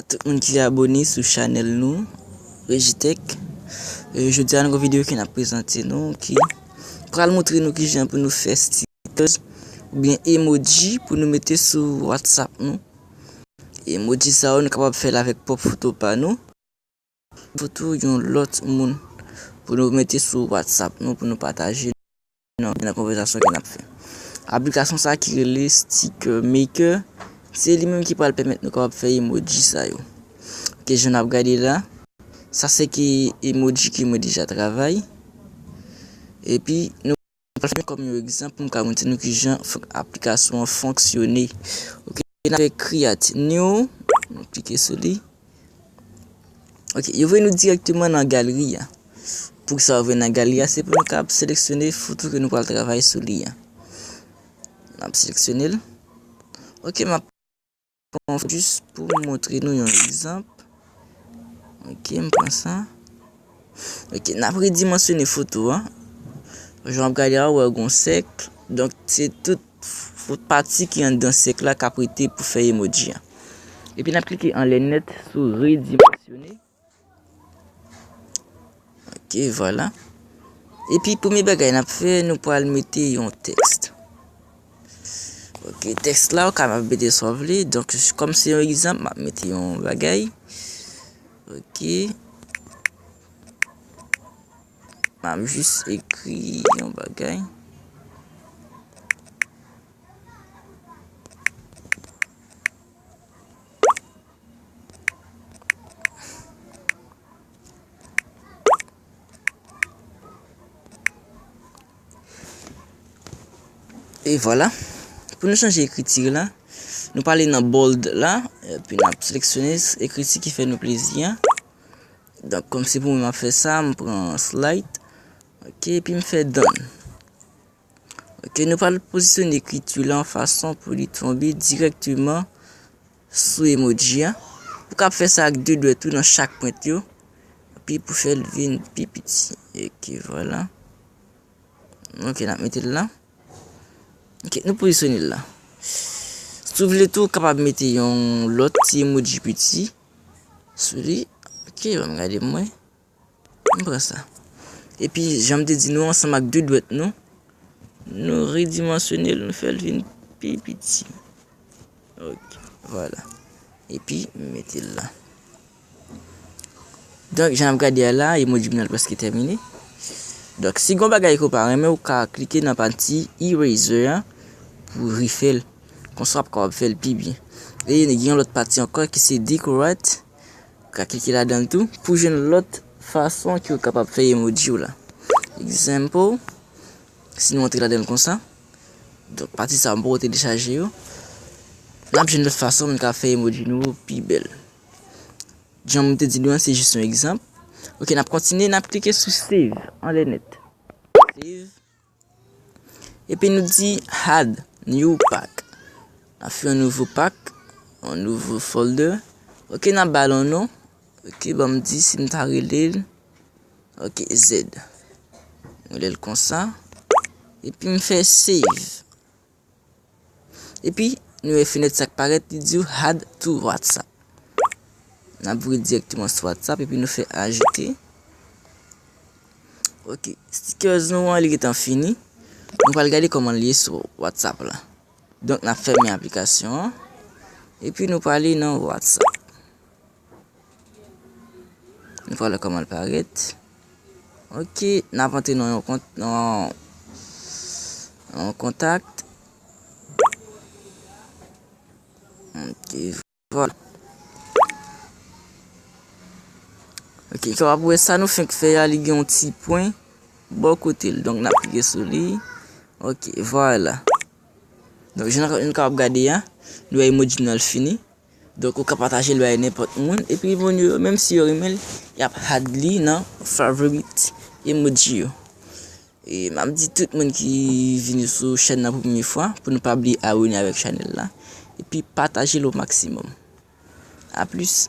A tout moun ki abone sou chanèl nou Rejitech Jodi a nou gen yon videyo ke nap prezante nou ki pral moutre nou kijan pou nou fè stickers oubyen emoji pou nou mete sou whatsapp nou Emoji sa yo nou kapab fèl avèk pwòp foto pa nou. Foto yon lòt moun pou nou mete sou WhatsApp nou pou nou pataje nan konvèzasyon ke nap fè. Aplikasyon sa ki rele Sticker Maker, se li menm ki pral pèmèt nou kapab fè emoji sa yo. Ok, jan nap gade la, sa se ki emoji ke mwen deja travay. Epi nou. Mwen pran kòm yon egzanp pou m ka montre nou ki jan aplikasyon an fonksyone. Ok, n ap fè create new. N ap klike sou li. Ok, yo voye nou dirèkteman nan galri a. Pou sa ou vin nan galri a, se pou nou kab seleksyone foto ke nou pral travay sou li a. N ap seleksyone l. Ok, m ap. Bon jis pou m montre nou yon egzanp. Ok m pran sa. Ok n ap redimansyone foto an. Jan w ap gade a ou wè gen yon sèk. Donk se tout fout pati ki anndan sèk la k ap rete pou fè emoji an. Epi n ap klike anlè nèt sou redimansyone. Ok vwala. E pi premye bagay n ap fè, nou pral mete yon tèks. Ok, tèks la ou kapab mete sa w vle. Donk, kòm se yon egzanp, m ap mete yon bagay. Ok. M ap jis ekri yon bagay. E vwala, pou nou chanje ekriti la, nou pale nan bold la, epi nan seleksyone ekriti ki fè nou plezi a. Donk, kòm se pou mwen ap fè sa, m pran slide, ok, epi m fè done. Ok, nou pral pozisyon ekriti lan fason pou li tonbe direkteman sou emoji an. Ou kap fè sa ak 2 dwèt ou nan chak pwent yo. Pi pou fè l vin pi piti. Ok, vwala. Ok, nan mete l lan. Ok, nou pozisyon li lan. Sou vle tou kapab mete yon lot ti emoji piti. Sou li. Ok, wèm gade mwen. M pran sa. Epi jan m te di nou ansanm ak de dwèt nou, nou redimansyone l nou fè l vin pi piti. Ok, vwala. Epi m mete l la. Donk jan n ap gade a la, emoji m nan prèske tèmine. Donk si gon bagay ke w pa renmen ou ka klike nan pati eraser an pou w refè l. Konsa w ap kapab fè l pi byen. E gen yon lòt pati ankò ki se decorate. Ka klike ladan l tou pou jwenn lòt fason ke w kapab fè emoji w la. Example, si nou antre ladan l konsa, donk pati sa yo m poko telechaje yo, n ap jwenn lòt fason nou ka fè emoji nou yo pi bèl. Jan m te di nou an, se jis yon egzanp. Ok, n ap kontinye, n ap klike sou save anlè nèt. Save. Epi nou di add new pack. Na fè yon nouvo pak, yon nouvo folder. Ok na ba l yon non. Ok ban m di si m ta rele l. Ok zed. Rele l konsa. Epi m fè save. Epi nou wè fenèt sa k parèt li di w add to WhatsApp. N ap voye dirèkteman sou WhatsApp epi nou fè ajoute. Ok, stickers nou an li gentan fini. Nou pral gade kòman l ye sou WhatsApp la. Donk n ap fèmen aplikasyon an. Epi nou prale nan WhatsApp. Vwala koman l parèt. Ok, n ap antre nan yon kont, nan yon kontak. Ok, vwala. Ok, sa wap wè sa nou fèk fè a, li gen yon ti pwen bò kote l. Donk n ap klike sou li. Ok, vwala. Donk jan nou kab gade a, nou wè emoji nou an l fini. Donk ou ka pataje l bay nenpòt moun epi moun yo menm si yo renmen l y ap add li nan favorite emoji yo. E m ap di tout moun ki vini sou chèn nan pou premye fwa pou nou pa bliye abone avèk chanèl la epi pataje l o maksimòm. A plis!